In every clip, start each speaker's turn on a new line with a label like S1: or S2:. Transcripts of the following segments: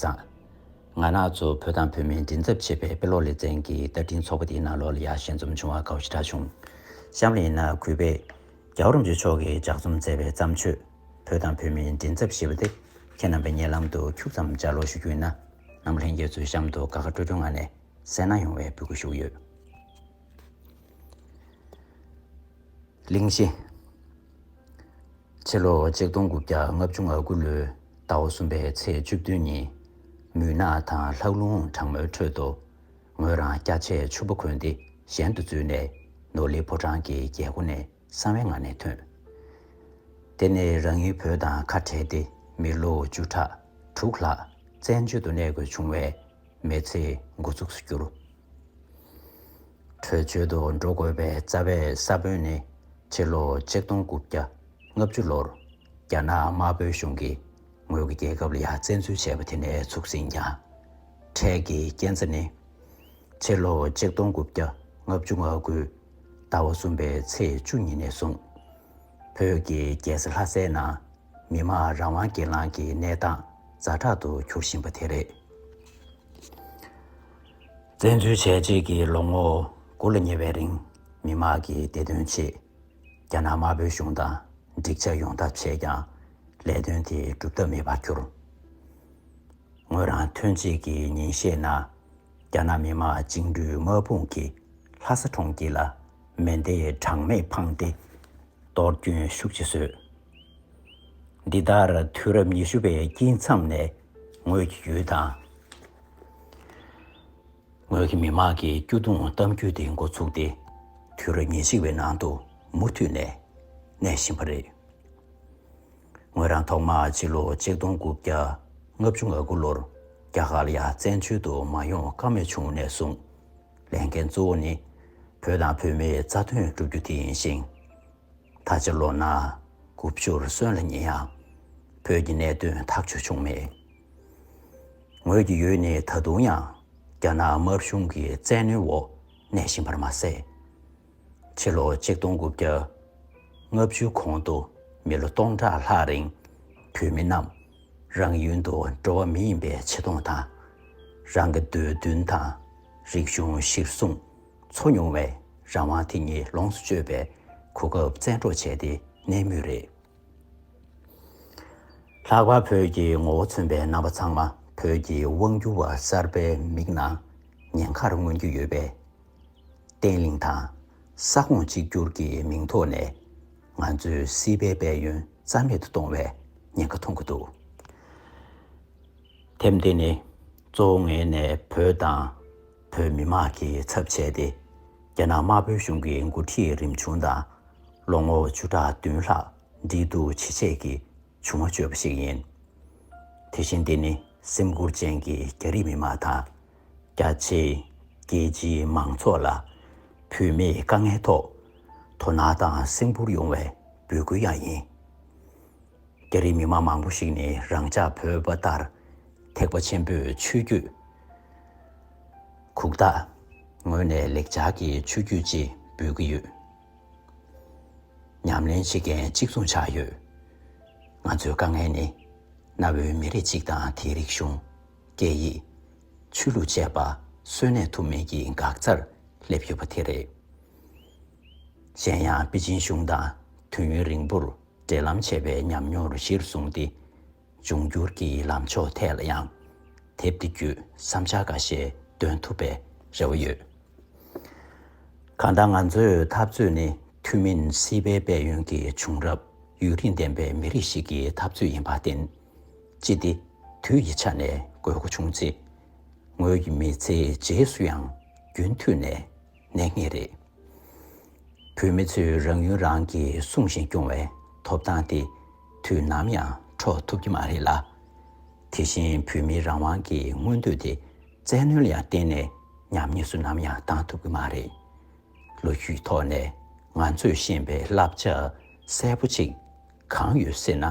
S1: བཟང། ང་ནག་ཚོ་བོད་དང་བོད་མིའི་མགྲིན་ཚབ་བྱེད་པའི་དཔེ་ཀློག་ལེ་ཚན་གྱི་བསྟར་འཕྲིན་ཚོགས་པ་དེའི་ནང་ལོ་ལ་ཡར་ཞལ་འཛོམས་བྱུང་བ་དགའ་བོ་ཞེ་དྲག་བྱུང། གཤམ་ལ་ཡིན་ན་གུས་པས། རྒྱ་བོད་རོམ་བཅས་ཕྱོགས་ཀྱིས་ལྗགས་རྩོམ་མཛད་པའི་བརྩམས་ཆོས། བོད་དང་བོད་མིའི་མགྲིན་ཚབ་ཞེས་པ་དེ་ཁྱེད་རྣམ་པའི་སྙན་ལམ་དུ་འཁྱུག་ཙམ་སྦྱར་ཀློག་ཞུ་རྒྱུ་ཡིན་ན། རྣམ་པ་ལྷན་རྒྱས་ཚོའི་གཤམ་དུ་དགའ་དགའ་སྤྲོ་སྤྲོའི་ངང་ནས་གསན་གནང་ཡོང་བའི་འབོད་སྐུལ་ཞུ་གི་ཡོད། གླིང་བཞི། ཕྱི་ལོ་ཆིག་སྟོང་དགུ་བརྒྱ་ལྔ་བཅུ་ང་དགུ་ལོའི་ཟླ་བ་གསུམ་པའི་ཚེས་བཅུ་བདུན་ཉིན། མུན་ནག་དང་ལྷགས་རླུང་གྲང་མོའི་ཁྲོད་དུ། ངོས་རང་སྐྱ་ཆས་ཕྱུར་པོ་གོན་ཏེ་གཞན་དུ་འཛུལ་ནས་ནོར་ལི་ཕོ་བྲང་གི་རྒྱལ་སྒོ་ནས་གསང་བའི་ངང་ནས་ཐོན། དེ་ནས་རང་ཡུལ་བོད་དང་ཁ་བྲལ་ཏེ་མི་ལོ་བཅུ་ཕྲག་དྲུག་ལྷག་བཙན་བྱོལ་དུ་གནས་དགོས་བྱུང་བས་མེལ་ཚེ་འགོ་ཚུགས་སུ་གྱུར། བྲོས་བྱོལ་དུ་འགྲོ་དགོས་པའི་རྩ་བའི་ས་བོན་ནི་ཕྱི་ལོ་ཆིག་སྟོང་དགུ་བརྒྱ་ལྔ་བཅུ་ལོར་རྒྱ་ནག་དམར་པོའི་གཞུང་གིས་ངོས་ཀྱི་རྒྱལ་ཁབ་ལ་ཡ་བཙན་འཛུལ་བྱས་པ་དེ་ནས་ཚུགས་ཟིན་ཀྱང། འཕྲལ་གྱི་རྐྱེན་རྩ་ནི། ཕྱི་ལོ་ཆིག་སྟོང་དགུ་བརྒྱ་ལྔ་བཅུ་ང་དགུའི་ཟླ་བ་གསུམ་པའི་ཚེས་བཅུ་ཉིན་ནས་བཟུང། བོད་ཀྱི་རྒྱལ་ས་ལྷ་སའི་ནང་མི་དམངས་རང་དབང་སྒེར་ལངས་ཀྱི་གནས་སྟངས་རྫ་དྲག་ཏུ་གྱུར་བཞིན་པ་དེ་རེད། བཙན་འཛུལ་བྱས་རྗེས་ཀྱི་ལོ་ངོ་དགུ་ལ་ཉེ་བའི་རིང་མི་དམངས་ཀྱི་བདེ་དོན་ཆེད་རྒྱ་ནག་དམར་པོའི་གཞུང་དང་འགྲིག་ཆ་ཡོང་ཐབས་བྱས་ཀྱང་ལས་དོན་དེ་འགྲུབ་ཐབས་མེད་པར་གྱུར། ངོས་རང་ཐོན་རྗེས་ཀྱི་ཉིན་ཤས་ནང་རྒྱ་ནག་མི་དམངས་བཅིངས་འགྲོལ་དམག་དཔུང་གིས་ལྷ་ས་གྲོང་ཁྱེར་ལ་མེ་མདའི་གྲངས་མེད་འཕངས་ཏེ་གཏོར་སྐྱོན་ཤུགས་ཆེ་བཟོས། འདི་ལྟར་དུས་རབས་ཉི་ཤུ་པའི་དཀྱིལ་མཚམས་ནས་ངོས་ཀྱི་ཡུལ་དང། ངོས་ཀྱི་མི་དམངས་ཀྱི་སྐྱོ་གདུང་གཏམ་རྒྱུད་དེ་མགོ་ཚུགས་ཏེ་དུས་ཉེར་གཅིག་པའི་ནང་དུ་མུ་མཐུད་ནས་གནས་བཞིན་པ་རེད། ངོས་རང་ཐོག་མར་སྤྱི་ལོ་ཆིག་སྟོང་དགུ་བརྒྱ་ལྔ་བཅུ་ང་དགུ་ལོར་རྒྱ་གར་ལ་ཡང་བཙན་བྱོལ་དུ་མ་ཡོང་ཀ་མེད་བྱུང་ནས་བཟུང་ལས་འགན་གཙོ་བོ་ནི་བོད་དང་བོད་མིའི་རྩ་དོན་བསྒྲུབ་རྒྱུ་དེ་ཡིན་ཞིང། ད་ཆ་ལོ་ན་དགུ་བཅུར་སོན་ལ་ཉེ་ཡང་བོད་ཀྱི་གནད་དོན་ཐག་གཅོད་བྱུང་མེད། ངོས་ཀྱི་ཡུལ་ནི་ད་དུང་ཡང་རྒྱ་ནག་དམར་གཞུང་གི་བཙན་གནོན་འོག་གནས་བཞིན་པར་མ་ཟད། ཕྱི་ལོ་ཆིག་སྟོང་དགུ་བརྒྱ་ལྔ་བཅུའི་གོང་དུ་མི་ལོ་སྟོང་ཕྲག་ལྷག་རིང་བོད་མི་རྣམས་རང་ཡུལ་དུ་འགྲོ་བ་མི་ཡིན་པའི་ཆེ་མཐོང་དང། རང་གི་འདོད་འདུན་དང་རིག་གཞུང་གཞིར་བཟུང། འཚོ་མྱོང་བས་རང་དབང་དེ་ཉིད་ལོངས་སུ་སྤྱོད་པའི་གོ་སྐབས་བཙན་འཕྲོག་བྱས་ཏེ་གནས་མུས་རེད། ལྷག་པར་བོད་ཀྱི་ངོ་བོ་མཚོན་པའི་རྣམ་པ་ཚང་མ་བོད་ཀྱི་དབང་སྒྱུར་བ་གསར་པའི་མིག་ནང་ཉེན་ཁར་མངོན་རྒྱུ་ཡོད་པས། བརྟན་བརླིང་དང་ས་ཁོངས་གཅིག་གྱུར་གྱི་མིང་ཐོག་ནས་ང་ཚོའི་སྲིད་པའི་དཔལ་ཡོན་རྩ་མེད་དུ་གཏོང་བའི་ཉེན་ཁ་མཐོང་གི་འདུག་དེབ་འདི་ནི་གཙོ་བོ་ངེད་ནས་བོད་དང། བོད་མི་དམངས་ཀྱི་ཚབ་བྱས་ཏེ། རྒྱ་ནག་དམར་པོའི་གཞུང་གི་མགོ་ཁྲིད་རིམ་བྱུང་དང། ལོ་ངོ་བཅུ་ཕྲག་བདུན་ལྷག་འདྲིས་སྡུར་བྱེད་སྤྱད་ཀྱི་བྱུང་བ་བརྗོད་པ་ཞིག་ཡིན། དེ་བཞིན་འདི་ནི་སེམས་ཁུར་ཅན་གྱི་རྒྱ་རིགས་མི་དམངས་དང། རྒྱ་ཆེའི་རྒྱལ་སྤྱིའི་མང་ཚོགས་ལ་བོད་མིའི་དཀའ་ངལ་ཐོག་དོ་སྣང་དང་སེམས་ཁུར་ཡོང་བའི་འབོད་སྐུལ་ཡང་ཡིན། རྒྱ་རིགས་མི་མང་མང་པོ་ཞིག་ནི་རང་ཅག་བོད་པ་ལྟར་ཐེག་པ་ཆེན་པོའི་ཆོས་བརྒྱུད་གུག་རྟགས་ངོས་ནས་ལེགས་སྦྱར་གྱི་ཆོས་བརྒྱུད་ཅེས་འབོད་ཀྱི་ཡོད། ཉམས་ལེན་བྱེད་མཁན་གཅིག་མཚུངས་ཆགས་ཡོད། ང་ཚོའི་དཀའ་ངལ་ནི་གནའ་བོའི་མི་རིགས་གཅིག་དང་དེའི་རིག་གཞུང། སྐད་ཡིག། ཆོས་ལུགས་བཅས་པ་གསོན་གནས་ཐུབ་མིན་གྱི་འགག་རྩར་སླེབས་ཡོད་པ་དེ་རེད། གཞན་ཡང་པེ་ཅིན་གཞུང་དང་དུས་ཡུན་རིང་པོར་འབྲེལ་ལམ་བྱེད་པའི་ཉམས་མྱོང་རུ་གཞིར་བཟུང་སྟེ། འབྱུང་འགྱུར་གྱི་ལམ་ཕྱོགས་ཐད་ལ་ཡང་དེབ་འདི་བརྒྱུད་བསམ་འཆར་འགའ་ཤས་འདོན་ཐུབ་པའི་རེ་བ་ཡོད། གང་ལྟར་ང་ཚོའི་འཐབ་རྩོད་ནི་ཐུན་མིན་སྲིད་པའི་དཔལ་ཡོན་གྱི་བྱུང་རབས་ཡུན་རིང་ལྡན་པའི་མི་རིགས་ཤིག་གི་འཐབ་རྩོད་ཡིན་པར་བརྟེན། ཅི་སྟེ་དུས་ཀྱི་ཆ་ནས་དགོས་མཁོ་བྱུང་ཚེ། ངོས་ཀྱི་མི་ཚེའི་རྗེས་སུ་ཡང་རྒྱུན་མཐུད་ནས། གནས་ངེས་རེད། བོད་མི་ཚོས་རང་ཡུལ་རང་གིས་སྲུང་བཞིན་སྐྱོང་བའི་ཐོབ་ཐང་དེ་དུས་ནམ་ཡང་འཕྲོག་ཐུབ་ཀྱི་མ་རེད་ལ། དེ་བཞིན་བོད་མིའི་རང་དབང་གི་མངོན་འདོད་དེ་བཙན་གནོན་ལ་ཡང་གཏན་ནས་ཉམས་ཉེས་སུ་ནམ་ཡང་བཏང་ཐུབ་ཀྱི་མ་རེད། ལོ་རྒྱུས་ཐོག་ནས་ང་ཚོས་ཤེས་པའི་བསླབ་བྱ་གསལ་པོ་ཅིག་གང་ཡོད་ཟེར་ན།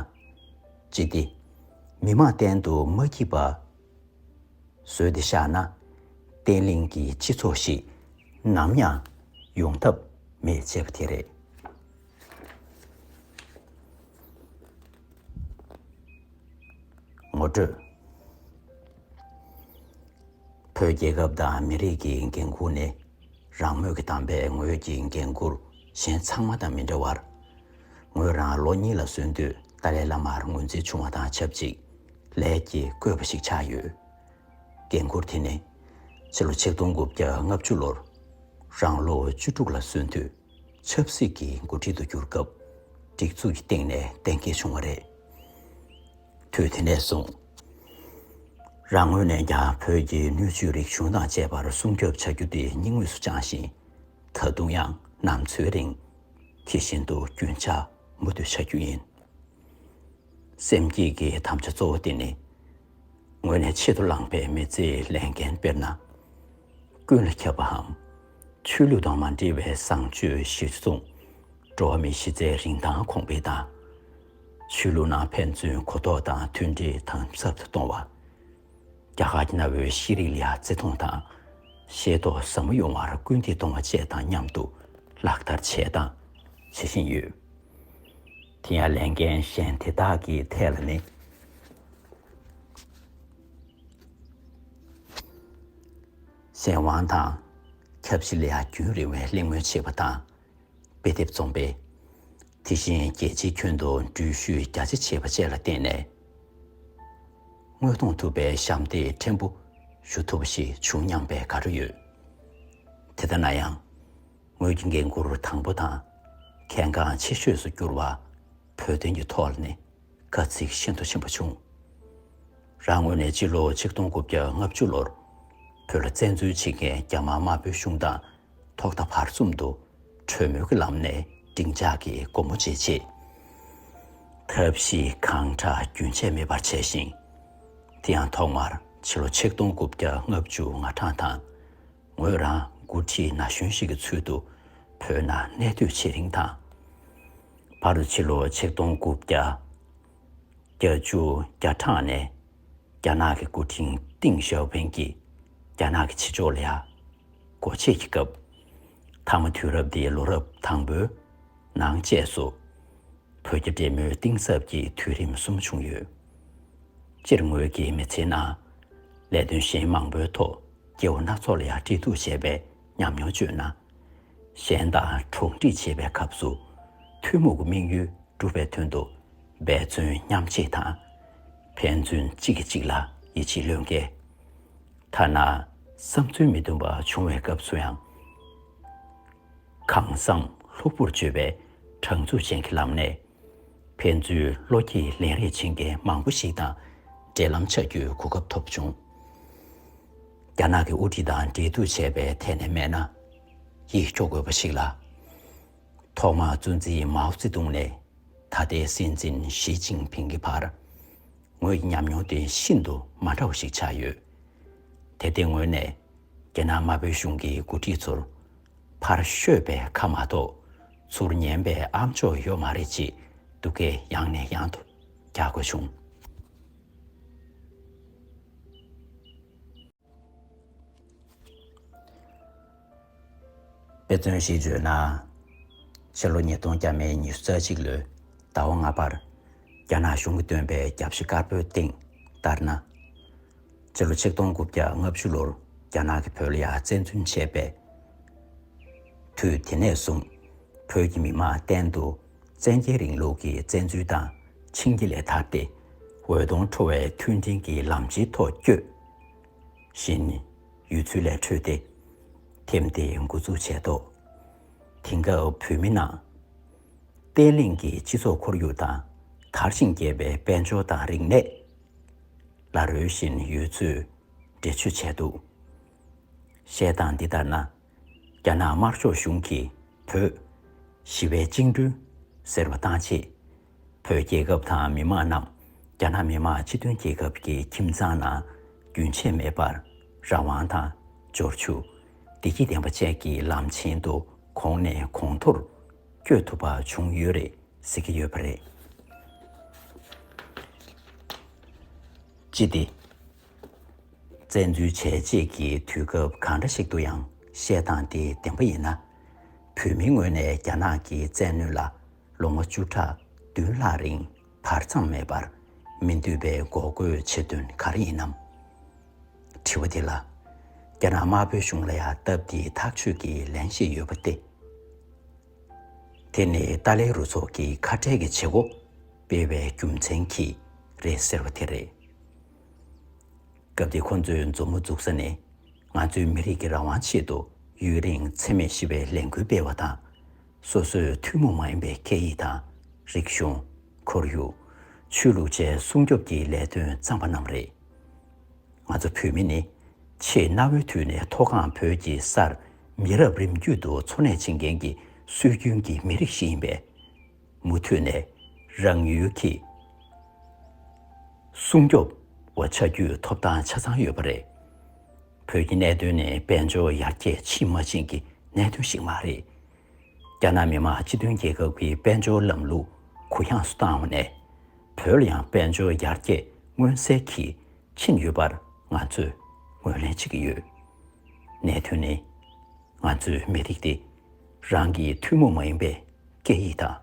S1: ཅི་སྟེ། མི་མང་གཏན་དུ་མ་སྐྱིད་པ། བཟོས་ཏེ་བཞག་ན། བརྟན་བརླིང་གི་སྤྱི་ཚོགས་ཤིག་ནམ་ཡང་ཡོང་ཐབས་མེད་ཅེས་པ་དེ་རེད། ངོ་སྤྲོད། བོད་རྒྱལ་ཁབ་དང་མི་རིགས་ཀྱི་འགན་ཁུར་ནི་རང་མོས་ཀྱི་དམ་པའི་ངོས་ཀྱི་འགན་ཁུར་གཞན་ཚང་མ་དང་མི་འདྲ་བར། ངོས་རང་ལོ་གཉིས་ལ་སོན་དུས་ཏཱ་ལའི་བླ་མར་ངོས་འཛིན་བྱུང་བ་དང་ཆབས་ཅིག། ལས་ཀྱི་བཀོད་པ་ཞིག་ཆགས་ཡོད། འགན་ཁུར་དེ་ནི་ཕྱི་ལོ་ཆིག་སྟོང་དགུ་བརྒྱ་ལྔ་བཅུ་ལོར་རང་ལོ་བཅུ་དྲུག་ལ་སོན་དུས་ཆབ་སྲིད་ཀྱི་འགོ་ཁྲིད་དུ་གྱུར་སྐབས་སྒྲིག་འཛུགས་ཀྱི་སྟེང་ནས་གཏན་འཁེལ་བྱུང་བ་རེད། དུས་དེ་ནས་བཟུང་རང་ངོས་ནས་ཀྱང་བོད་ཀྱི་སྣོད་བཅུད་རིག་གཞུང་དང་བཅས་པར་སྲུང་སྐྱོབ་བྱ་རྒྱུ་དེ་སྙིང་དབུས་སུ་བཅངས་ཤིང། ད་དུང་ཡང་ནམ་འཚོའི་རིང་དེ་བཞིན་དུ་རྒྱུན་ཆགས་མུ་མཐུད་བྱ་རྒྱུ་ཡིན། སེམས་བསྐྱེད་ཀྱི་དམ་བཅའ་གཙོ་བོ་དེ་ནི། ངོས་ནས་ཆེད་དུ་བླངས་པའི་མི་ཚེའི་ལས་འགན་དཔེར་ན། ཀུན་ལ་ཁྱབ་པའམ་ཆོས་ལུགས་དང་མ་འབྲེལ་བའི་བཟང་སྤྱོད་གཞིར་བཟུང། འགྲོ་བ་མིའི་གཞི་རྩའི་རིན་ཐང་གོང་སྤེལ་དང། ཆོས་ལུགས་ནང་ཕན་ཚུན་གོ་རྟོགས་དང་མཐུན་སྒྲིལ་དམ་ཟབ་ཏུ་གཏོང་བ། རྒྱ་གར་གྱི་གནའ་བོའི་ཤེས་རིག་ལ་བརྩི་མཐོང་དང་ཤེས་རྟོགས་ཟབ་མོ་ཡོང་བར་སྐུལ་འདེད་གཏོང་བ་བཅས་དང་མཉམ་དུ་ལག་བསྟར་བྱས་དང་བྱེད་བཞིན་ཡོད། དེ་ཡང་ལས་འགན་གཞན་དེ་དག་གི་ཐད་ལ་ནི། སྲས་དབང་དང། ཁྱབ་བཞི་ལས་རྒྱུན་རིང་བའི་གླེང་མོལ་བྱེད་པ་དང། དཔེ་དེབ་རྩོམ་པའི། དེ་བཞིན་རྒྱལ་སྤྱིའི་ཁྱོན་དུ་འགྲུལ་བཞུད་རྒྱ་ཆེ་བྱེད་པ་བཅས་ལ་བརྟེན་ནས། དངོས་མཐོང་ཐུབ་པའི་ཞབས་འདེགས་ཕྲན་བུ་ཞུ་ཐུབ་པ་ཞིག་བྱུང་སྙམ་པའི་དགའ་སྤྲོ་ཡོད། དེ་ལྟ་ན་ཡང། ངོས་ཀྱི་འགན་འཁུར་དང་པོ་དང་གལ་འགངས་ཆེ་ཤོས་སུ་གྱུར་བ་བོད་དོན་གྱི་ཐོག་ལ་ནི་དཀའ་ཚེགས་ཤིན་ཏུ་ཆེན་པོ་བྱུང། རང་ངོས་ནས་སྤྱི་ལོ་ཆིག་སྟོང་དགུ་བརྒྱ་ལྔ་བཅུ་ལོར་བོད་ལ་བཙན་འཛུལ་བྱེད་མཁན་རྒྱ་དམར་དམར་པོའི་གཞུང་དང་ཐོག་མཐའ་བར་གསུམ་དུ་གྲོས་མོལ་གྱི་ལམ་ནས་བསྒྲིག་འཇགས་ཀྱི་སྒོ་མོ་འབྱེད་ཆེད་ཐབས་ཤེས་གང་དྲག་རྒྱུན་ཆད་མེད་པར་བྱས་ཤིང། དེ་ཡང་ཐོག་མར་ཕྱི་ལོ་ཆིག་སྟོང་དགུ་བརྒྱ་ལྔ་བཅུ་ང་གྲངས་དང་ངོས་རང་མགོ་ཁྲིད་ན་གཞོན་ཞིག་གི་ཚུལ་དུ་བོད་ནང་གནས་སྡོད་བྱེད་རིང་དང། བར་དུ་ཕྱི་ལོ་ཆིག་སྟོང་དགུ་བརྒྱ་བརྒྱ་བཅུ་བརྒྱ་གྲངས་ནས་རྒྱ་ནག་གི་སྐུ་ཕྲེང་ཏིང་ཞའོ་ཕིན་གྱིས་རྒྱ་ནག་གི་ཕྱི་ཕྱོགས་ལ་ཡག་སྒོ་ཕྱེས་ཀྱི་སྐབས། མཐའ་མ་དུས་རབས་འདིའི་ལོ་རབས་དང་པོའི་ནང་བཅས་སུ། བོད་རྒྱ་འབྲེལ་མོལ་གཏིང་ཟབ་ཀྱི་དུས་རིམ་གསུམ་བྱུང་ཡོད། སྤྱིར་ངོས་ཀྱི་མི་ཚེའི་ནང་ལས་དོན་གཞན་མང་པོའི་ཐོག་སྐྱེ་བོ་སྣ་ཚོགས་ལ་ཡང་དཀྲིས་གཏུགས་བྱས་པའི་ཉམས་མྱོང་སྤྱོད་ན། གཞན་དང་གྲོགས་འདྲིས་བྱེད་པའི་སྐབས་སུ། ཐུན་མོང་གི་དམིགས་ཡུལ་འགྲུབ་པའི་དོན་དུ། འབད་བརྩོན་མཉམ་བསྐྱེད་དང། ཕན་ཚུན་གཅིག་གིས་གཅིག་ལ་ཡིད་ཆེས་བློས་འགེལ། ཐ་ན་བསམ་ཚུལ་མི་མཐུན་པ་བྱུང་བའི་སྐབས་སུ་ཡང། གང་བསམ་ལྷུག་པོར་བརྗོད་པའི་དྲང་ཚུགས་ཅན་གྱི་ལམ་ནས། ཕན་ཚུན་བློ་སྐྱེད་ལེན་རེས་བྱེད་མཁན་མང་པོ་ཞིག་དང་འབྲེལ་ལམ་ཆགས་རྒྱུའི་གོ་སྐབས་ཐོབ་བྱུང། རྒྱ་ནག་གི་དབུ་ཁྲིད་དང་འབྲེལ་གཏུག་བྱས་པའི་ཐད་ནས་སྨྲས་ན། ཡིད་སྐྱོ་དགོས་པ་ཞིག་ལ། ཐོག་མར་གཙོ་འཛིན་མའོ་ཙེ་ཏུང་ནས་ད་ལྟའི་སྲིད་འཛིན་ཞི་ཅིང་ཕིང་གི་བར་ངོས་ཀྱི་ཉམས་མྱོང་དེ་ཤིན་ཏུ་མ་འདྲ་བ་ཞིག་ཆགས་ཡོད་དེ། དེ་ངོས་ནས་རྒྱ་ནག་དམར་པོའི་གཞུང་གི་འགོ་ཁྲིད་ཚོར། ཕར་བཤོས་པའི་ཁ་མ་གཏོགས་ཚུར་ཉན་པའི་ཨ་མཆོག་ཡོད་མ་རེད་ཅེས་སྡུག་སྐད་ཡང་ནས་ཡང་དུ་རྒྱག་དགོས་བྱུང། དཔེ་མཚོན་ཞིག་བརྗོད་ན། ཕྱི་ལོ་ཉིས་སྟོང་བརྒྱ་མེད་ཉི་ཤུ་རྩ་གཅིག་ལོའི་ཟླ་བ་ལྔ་པར་རྒྱ་ནག་གཞུང་གིས་བཏོན་པའི་རྒྱབ་ཤི་དཀར་པོའི་སྟེང་ལྟར་ན། ཕྱི་ལོ་ཆིག་སྟོང་དགུ་བརྒྱ་ལྔ་བཅུ་ལོར་རྒྱ་ནག་གིས་བོད་ལ་ཡར་བཙན་འཛུལ་བྱས་པའི་དུས་དེ་ནས་བཟུང་བོད་ཀྱི་མི་དམངས་གཏན་དུ་བཙན་རྒྱལ་རིང་ལུགས་ཀྱི་བཙན་འཛུལ་དང་འཆིང་རྒྱ་ལས་ཐར་ཏེ་འོད་སྟོང་འཕྲོ་བའི་མཐུན་སྒྲིལ་གྱི་ལམ་སྤྱི་ཐོག་བསྐྱོད་བཞིན་ཡོད་ཚུལ་ལས་འཕྲོས་ཏེ་ཐེམ་དེ་མགོ་འཛུགས་བྱས་ཐོག་དེང་སྐབས་བོད་མི་ནང་བསྟན་གླིང་གི་སྤྱི་ཚོགས་ཁོར་ཡུག་དང་དར་ཞིང་རྒྱས་པའི་དཔལ་འབྱོར་དང་རིག་གནས། ལ་རོལ་བཞིན་ཡོད་ཚུལ་འགྲེལ་བརྗོད་བྱས་འདུག་བཤད་སྟངས་འདི་ལྟར་ན། རྒྱ་ནག་དམར་ཕྱོགས་གཞུང་གིས་བོད། ཞི་བའི་བཅིངས་གྲོལ། ཟེར་བ་བཏང་རྗེས། བོད་རྒྱལ་ཁབ་དང་མི་མང་རྣམས་རྒྱ་ནག་མི་དམངས་སྤྱི་མཐུན་རྒྱལ་ཁབ་ཀྱི་ཁྱིམ་ཚང་ནང་རྒྱུན་ཆད་མེད་པར་རང་དབང་དང། འབྱོར་ཕྱུག། བདེ་སྐྱིད་ལྡན་པ་བཅས་ཀྱི་ལམ་ཆེན་དུ་གོང་ནས་གོང་མཐོར། བསྐྱོད་ཐུབ་པ་བྱུང་ཡོད་རེད་ཟེར་གྱི་ཡོད་པ་རེད། ཅི་སྟེ། བཙན་འཛུལ་བྱས་རྗེས་ཀྱི་དུས་སྐབས་གང་འདྲ་ཞིག་ཏུ་ཡང་བཤད་སྟངས་དེ་བདེན་པ་ཡིན་ན། བོད་མིའི་ངོས་ནས་རྒྱ་ནག་གི་བཙན་གནོན་ལ་ལོ་ངོ་བཅུ་ཕྲག་བདུན་ལྷག་རིང་བར་མཚམས་མེད་པར་མི་འདུས་པའི་འགོག་རྒོལ་བྱེད་དོན་ག་རེ་ཡིན་ནམ། དྲི་བ་འདི་ལ་རྒྱ་ནག་དམར་པོའི་གཞུང་ལ་ཡང་སྟབས་ཀྱིས་ཐག་གཅོད་ཀྱི་ལན་ཞིག་ཡོད་པ་སྟེ། དེ་ནི་ཏཱ་ལའི་རུ་ཚོགས་ཀྱིས་ཁ་བྲལ་གྱི་བྱེད་སྒོ་སྤེལ་བའི་རྒྱུ་མཚན་གྱིས་རེད་ཟེར་བ་དེ་རེད། སྐབས་དེ་ཁོ་ཚོས་མཛུབ་མོ་འཛུགས་ས་ནི་ང་ཚོའི་མི་རིགས་ཀྱི་རང་དབང་ཆེད་དུ་ཡུན་རིང་འཚེ་མེད་ཞི་བའི་ལས་འགུལ་སྤེལ་བ་དང་སོ་སོའི་ཐུན་མོང་མ་ཡིན་པའི་སྐད་ཡིག་དང། རིག་གཞུང། ཁོར་ཡུག། ཆོས་ལུགས་བཅས་སྲུང་སྐྱོབ་ཀྱི་ལས་དོན་བརྩམས་པ་རྣམས་རེད། ང་ཚོ་བོད་མི་ནི། ཆེས་གནའ་བོའི་དུས་ནས་མཐོ་སྒང་བོད་ཀྱི་སར་མི་རབས་རིམ་བརྒྱུད་དུ་འཚོ་གནས་བྱེད་མཁན་གྱི་སྲོལ་རྒྱུན་གྱི་མི་རིགས་ཤིག་ཡིན་པས། མུ་མཐུད་ནས་རང་ཡུལ་གྱི། སྲུང་སྐྱོབ། བ་བྱ་རྒྱུའི་ཐོབ་ཐང་ཆ་ཚང་ཡོད་པ་རེད། བོད་ཀྱི་གནད་དོན་ནི་དཔལ་འབྱོར་ཡར་རྒྱས་ཕྱིན་མ་ཕྱིན་གྱི་གནད་དོན་ཞིག་མ་རེད། རྒྱ་ནག་མི་དམངས་སྤྱི་མཐུན་རྒྱལ་ཁབ་ཀྱི་དཔལ་འབྱོར་ལམ་ལུགས་གུ་ཡངས་སུ་བཏང་བ་ནས། བོད་ལ་ཡང་དཔལ་འབྱོར་ཡར་རྒྱས་མངོན་གསལ་གྱིས་ཕྱིན་ཡོད་པར་ང་ཚོས་ངོས་ལེན་བྱེད་ཀྱི་ཡོད། གནད་དོན་ནི། ང་ཚོས་མི་རིགས་དེ་རང་གི་ཐུན་མོང་མ་ཡིན་པའི་སྐད་ཡིག་དང།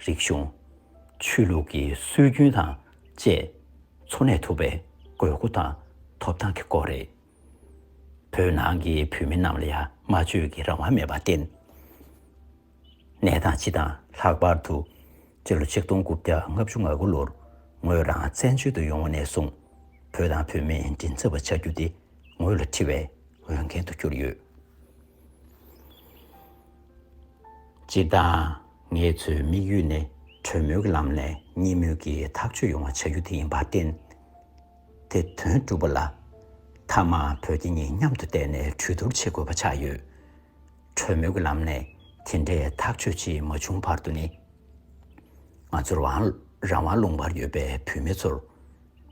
S1: རིག་གཞུང། ཆོས་ལུགས་ཀྱི་སྲོལ་རྒྱུན་དང་བཅས། འཚོ་གནས་ཐུབ་པའི་དགོས་མཁོ་དང་ཐོབ་ཐང་གི་སྐོར་རེད། བོད་ནང་གི་བོད་མི་རྣམས་ལ་ཡང་སྨྲ་བརྗོད་ཀྱི་རང་དབང་མེད་པར་བརྟེན། གནས་སྟངས་སྤྱི་དང་ལྷག་པར་དུ་སྤྱི་ལོ་ཆིག་སྟོང་དགུ་བརྒྱ་ལྔ་བཅུ་ང་དགུ་ལོར་ངོས་རང་བཙན་བྱོལ་དུ་ཡོང་བ་ནས་བཟུང་བོད་དང་བོད་མིའི་མགྲིན་ཚབ་པ་བྱ་རྒྱུ་དེ་ངོས་ལ་འཁྲི་བའི་འོས་འགན་དུ་གྱུར་ཡོད། སྤྱི་དང། ངེད་ཚོའི་དམིགས་ཡུལ་ནི་གྲོས་མོལ་གྱི་ལམ་ནས་གཉིས་མོས་ཀྱིས་ཐག་གཅོད་ཡོང་བ་བྱ་རྒྱུ་དེ་ཡིན་པར་བརྟེན། དེ་དོན་གྲུབ་པ་ལ། མཐའ་མ་བོད་རྒྱ་གཉིས་མཉམ་དུ་བསྡད་ནས་གྲོས་བསྡུར་བྱེད་དགོས་པ་ཆགས་ཡོད། གྲོས་མོལ་གྱི་ལམ་ནས་དེ་འདྲའི་ཐག་གཅོད་ཅིག་མ་བྱུང་བར་དུ་ནི། ང་ཚོར་རང་དབང་ལུང་པར་ཡོད་པའི་བུད་མེད་ཚོར།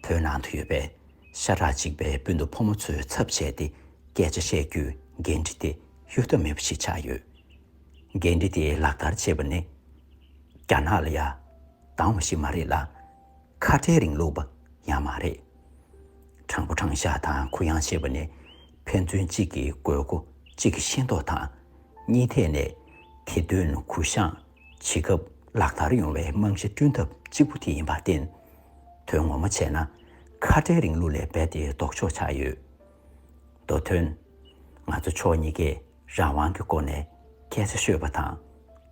S1: བོད་ནང་དུ་ཡོད་པའི་ཤ་ཁྲག་གཅིག་པའི་སྤུན་ཟླ་ཕོ་མོ་ཚོའི་ཚབ་བྱས་ཏེ་སྐད་ཆ་བཤད་རྒྱུའི་འགན་འཁྲི་དེ་གཡོལ་ཐབས་མེད་པ་ཞིག་ཆགས་ཡོད། འགན་འཁྲི་དེ་ལག་བསྟར་བྱེད་པ་ནི་རྒྱ་ནག་ལ་ཡང་དང་བ་ཞིག་མ་རེད་ལ། ཁ་བྲལ་རིང་ལུགས་པ་ཡང་མ་རེད། དྲང་པོ་དྲང་བཞག་དང་གུ་ཡངས་བྱེད་པ་ནི་ཕན་ཚུན་གཅིག་གི་དགོས་མཁོ་གཅིག་གི་ཤེས་རྟོགས་དང་གཉིས་ཐད་ནས་དེ་དོན་གུ་བཤངས་བྱེད་སྐབས་ལག་བསྟར་ཡོང་བའི་རྨང་གཞི་བསྐྲུན་ཐབས་གཅིག་པུ་དེ་ཡིན་པར་བརྟེན། དོན་ངོ་མ་བྱས་ན་ཁ་བྲལ་རིང་ལུགས་ལས་རྦད་དེ་ལྡོག་ཆོག་ཆགས་ཡོད། མདོ་དོན། ང་ཚོ་ཕྱོགས་གཉིས་ཀས་རང་དབང་གི་སྒོ་ནས་སྐད་ཆ་ཤོད་པ་དང་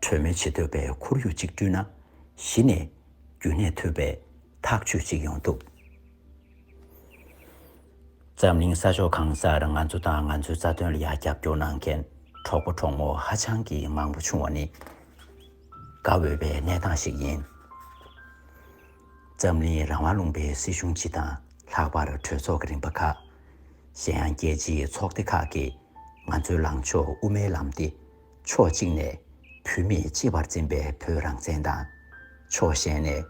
S1: གྲོས་མོལ་བྱེད་འདོད་པའི་ཁོར་ཡུག་ཅིག་བསྐྲུན་ན་གཞི་ནས་རྒྱུན་གནས་ཐུབ་པའི་ཐག་གཅོད་ཅིག་ཡོང་ཐུབ། འཛམ་གླིང་ས་ཕྱོགས་གང་སར་ང་ཚོ་དང་ང་ཚོའི་རྩ་དོན་ལ་ཡང་རྒྱབ་སྐྱོར་གནང་མཁན་གྲོགས་པོ་གྲོགས་མོ་ཧ་ཅང་གི་མང་པོ་བྱུང་བ་ནི་དགའ་འོས་པའི་གནས་སྟངས་ཤིག་ཡིན། འཛམ་གླིང་རང་དབང་ལུང་པའི་སྲིད་གཞུང་སྤྱི་དང་ལྷག་པར་གྲོས་ཚོགས་ཀྱི་རིམ་པ་ཁག། གཞན་ཡང་རྒྱལ་སྤྱིའི་ཚོགས་སྡེ་ཁག་གིས་ང་ཚོའི་ལངས་ཕྱོགས་དབུ་མའི་ལམ་སྟེ། ཕྱོགས་གཅིག་ནས་བུད་མེད་གཅེས་པར་འཛིན་པའི་བོད་རང་བཙན་དང། ཕྱོགས་གཞན་ནས་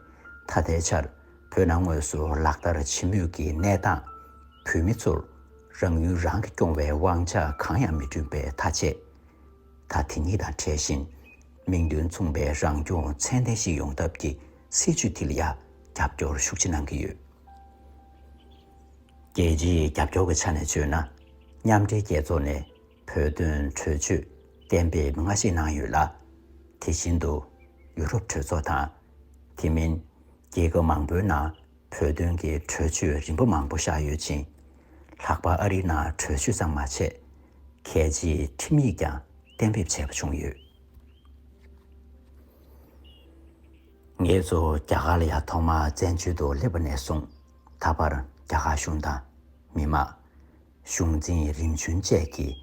S1: ད་ལྟའི་ཆར་བོད་ནང་དངོས་སུ་ལག་བསྟར་བྱེད་མུས་ཀྱི་གནས་སྟངས། བུད་མེད་ཚོར་རང་ཡུལ་རང་གིས་སྐྱོང་བའི་དབང་ཆ་གང་ཡང་མི་བསྐྲུན་པའི་ཐ་ཆད། ད་དེ་གཉིས་དང་བྲལ་ཞིང་མིང་དོན་མཚུངས་པའི་རང་སྐྱོང་ཚད་ལྡན་ཞིག་ཡོང་ཐབས་ཀྱི་སྲིད་བྱུས་དེ་ལ་ཡང་རྒྱབ་སྐྱོར་ཤུགས་ཆེ་གནང་གི་ཡོད། རྒྱལ་སྤྱིའི་རྒྱབ་སྐྱོར་གྱི་ཆ་ནས་བརྗོད་ན། མཉམ་འབྲེལ་རྒྱལ་ཚོགས་ནས། བོད་དོན་གྲོས་ཆོད་གཏན་འབེབས་སྔ་ཕྱི་གནང་ཡོད་ལ། དེ་བཞིན་དུ་ཡུ་རོབ་གྲོས་ཚོགས་དང། དེ་མིན་རྒྱལ་ཁབ་མང་པོའི་ནང་བོད་དོན་གྱི་གྲོས་ཆོད་རིམ་པ་མང་པོ་བཞག་ཡོད་ཅིང། ལྷག་པར་ཨ་རིའི་ནང་གྲོས་ཆོད་ཙམ་མ་ཆད། གལ་ཆེའི་ཁྲིམས་ཡིག་ཀྱང་གཏན་འབེབས་བྱས་པ་བྱུང་ཡོད། ངེད་ཚོ་རྒྱ་གར་ལ་ཡང་ཐོག་མར་བཙན་བྱོལ་དུ་སླེབས་པ་ནས་བཟུང་ད་བར་རྒྱ་གར་གཞུང་དང། མི་མང། གཞུང་འཛིན་རིམ་བྱོན་བཅས་ཀྱིས་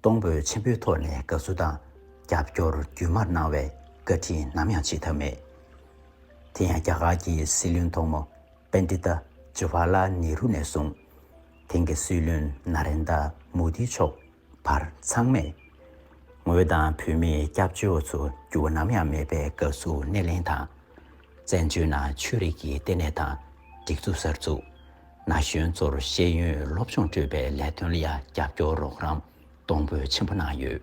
S1: གཏོང་ཕོད་ཆེན་པོའི་ཐོག་ནས་དགའ་བསུ་དང་རྒྱབ་སྐྱོར་རྒྱུན་མར་གནང་བས་བཀའ་དྲིན་ནམ་ཡང་ཆད་ཐབས་མེད། དེ་ཡང་རྒྱ་གར་གྱི་སྲིད་བློན་ཐོག་མ Pandita Jawaharlal Nehru ནས་བཟུང་དེང་གི་སྲིད་བློན Narendra Modi མཆོག་བར་ཚང་མས་ངོས་དང་བོད་མིའི་སྐྱབས་བཅོལ་ཚོ་འགྱུར་བ་ནམ་ཡང་མེད་པའི་དགའ་བསུ་སྣེ་ལེན་དང། བཙན་བྱོལ་ནང་ཆོས་རིག་གི་ལྟེ་གནས་དང་སྒྲིག་འཛུགས་གསར་འཛུགས། ན་གཞོན་ཚོར་ཤེས་ཡོན་སློབ་སྦྱོང་སྤྲོད་པའི་ལས་དོན་ལ་ཡང་རྒྱབ་སྐྱོར་རོགས་རམ་གཏོང་འབོད་ཆེན་པོ་གནང་ཡོད།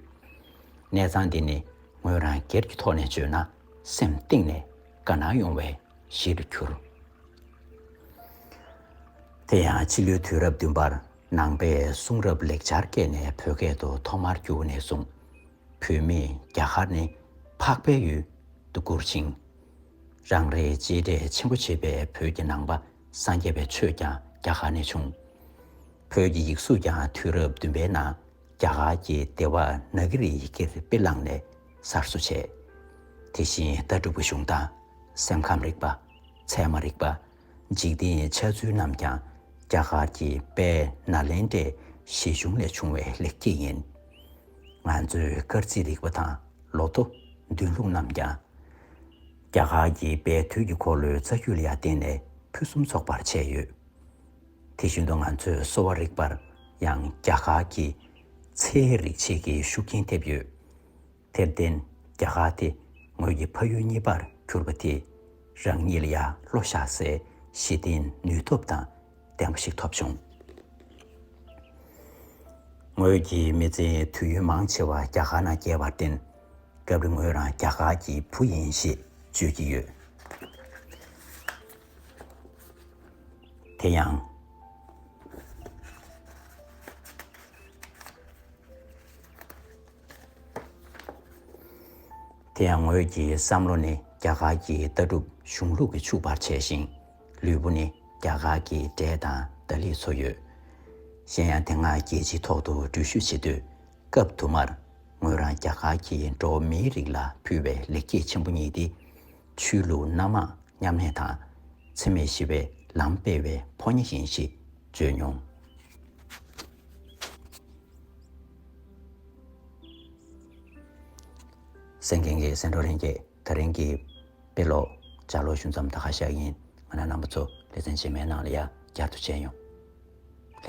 S1: གནས་ཚང་འདི་ནི་ངོས་རང་སྒེར་གྱི་ཐོག་ནས་བརྗོད་ན་སེམས་གཏིང་ནས་དགའ་སྣང་ཡོང་བའི་གཞི་རུ་གྱུར། དེ་ཡང་ཕྱི་ལོའི་དུས་རབས་བདུན་པར་ནང་པའི་གསུང་རབ་ལེགས་ཆར་བཀལ་ནས་བོད་སྐད་དུ་ཐོག་མར་བསྒྱུར་ནས་བཟུང། བོད་མིས་རྒྱ་གར་ནི་འཕགས་པའི་ཡུལ། དུ་བཀུར་ཅིང། རང་རེས་གཅེས་སྤྲས་ཆེན་པོ་བྱེད་པའི་བོད་ཀྱི་ནང་པ་སངས་རྒྱས་པའི་ཆོས་ཀྱང་རྒྱ་གར་ནས་བྱུང། བོད་ཀྱི་ཡིག་གཟུགས་ཀྱང་དུས་རབས་བདུན་པའི་ནང་རྒྱ་གར་གྱི་ལྡེ་བ་ན་གི་རིའི་ཡི་གེར་དཔེ་བླངས་ནས་གསར་བཟོ་བྱས། དེ་བཞིན་ལྟ་གྲུབ་ཀྱི་གཞུང་དང། སེམས་ཁམས་རིག་པ། ཚད་མ་རིག་པ། འཇིག་རྟེན་འཆལ་ཚུལ་རྣམས་ཀྱང་རྒྱ་གར་གྱི་དཔལ་ནཱ་ལེནྡྲའི་བཞེད་གཞུང་ལས་བྱུང་བའི་ལེགས་སྐྱེས་ཡིན། ང་ཚོའི་སྐར་རྩིས་རིག་པ་དང་ལོ་ཐོ་མདུན་ལུགས་རྣམས་ཀྱང། རྒྱ་གར་གྱི་དཔལ་དུས་ཀྱི་འཁོར་ལོའི་རྩ་རྒྱུད་ལ་ཡང་བརྟེན་ནས་ཕུན་སུམ་ཚོགས་པར་བྱས་ཡོད། དེ་བཞིན་དུ་ང་ཚོའི་གསོ་བ་རིག་པར་ཡང་རྒྱ་གར་གྱི་ཚེའི་རིག་བྱེད་ཀྱི་ཤུགས་རྐྱེན་ཐེབས་ཡོད། དེར་བརྟེན་རྒྱ་གར་དེ་ངོས་ཀྱི་ཕ་ཡུལ་གཉིས་པར་གྱུར་པ་དེས་རང་ཉིད་ལ་ཡར་བློ་བཞག་སའི་གཞི་རྟེན་ནུས་སྟོབས་དང་ལྡན་པ་ཞིག་ཐོབ་བྱུང། ངོས་ཀྱི་མི་ཚེའི་དུས་ཡུན་མང་ཆེ་བ་རྒྱ་གར་ན་བསྐྱལ་བར་བརྟེན་སྐབས་རེ་ངོས་རང་རྒྱ་གར་གྱི་བུ་ཡིན་ཞེས་བརྗོད་ཀྱི་ཡོད། དེ་ཡང། དེ་ཡང་ངོས་ཀྱི་བསམ་བློ་ནི་རྒྱ་གར་གྱི་ལྟ་གྲུབ་གཞུང་ལུགས་ཀྱིས་ཕྱུག་པར་བྱས་ཤིང། ལུས་པོ་ནི་རྒྱ་གར་གྱི་འབྲས་དང་རྡ་ལིས་འཚོ་ཡོད། གཞན་ཡང་དེ་སྔ་རྒྱལ་སྤྱིའི་ཐོག་ཏུ་འགྲུལ་བཞུད་བྱེད་དུས། སྐབས་དུ་མར་ངོས་རང་རྒྱ་གར་གྱི་འགྲོ་བ་མིའི་རིགས་ལ་ཕུལ་བའི་ལེགས་སྐྱེས་ཆེན་པོ་གཉིས་ཏེ། ཆོས་ལུགས་སྣ་མང་མཉམ་གནས་དང། འཚེ་མེད་ཞི་བའི་ལམ་སྤེལ་བའི་ཕོ་ཉ་ཡིན་ཞེས་བརྗོད་མྱོང། སེང་གེ་འགའི་སེང་འབྲོག་ལྷན་རྒྱས་ད་རིང་གི་དཔེ་ཀློག་བྱ་ལོ་ཞུ་མཚམས་ད་ཁ་ཤག་ཡིན་ང་རང་རྣམ་པ་ཚོ་ལེ་ཚན་རྗེས་མའི་ནང་ལ་ཡར་བསྐྱར་དུ་བྱས་མྱོང། ལྷན།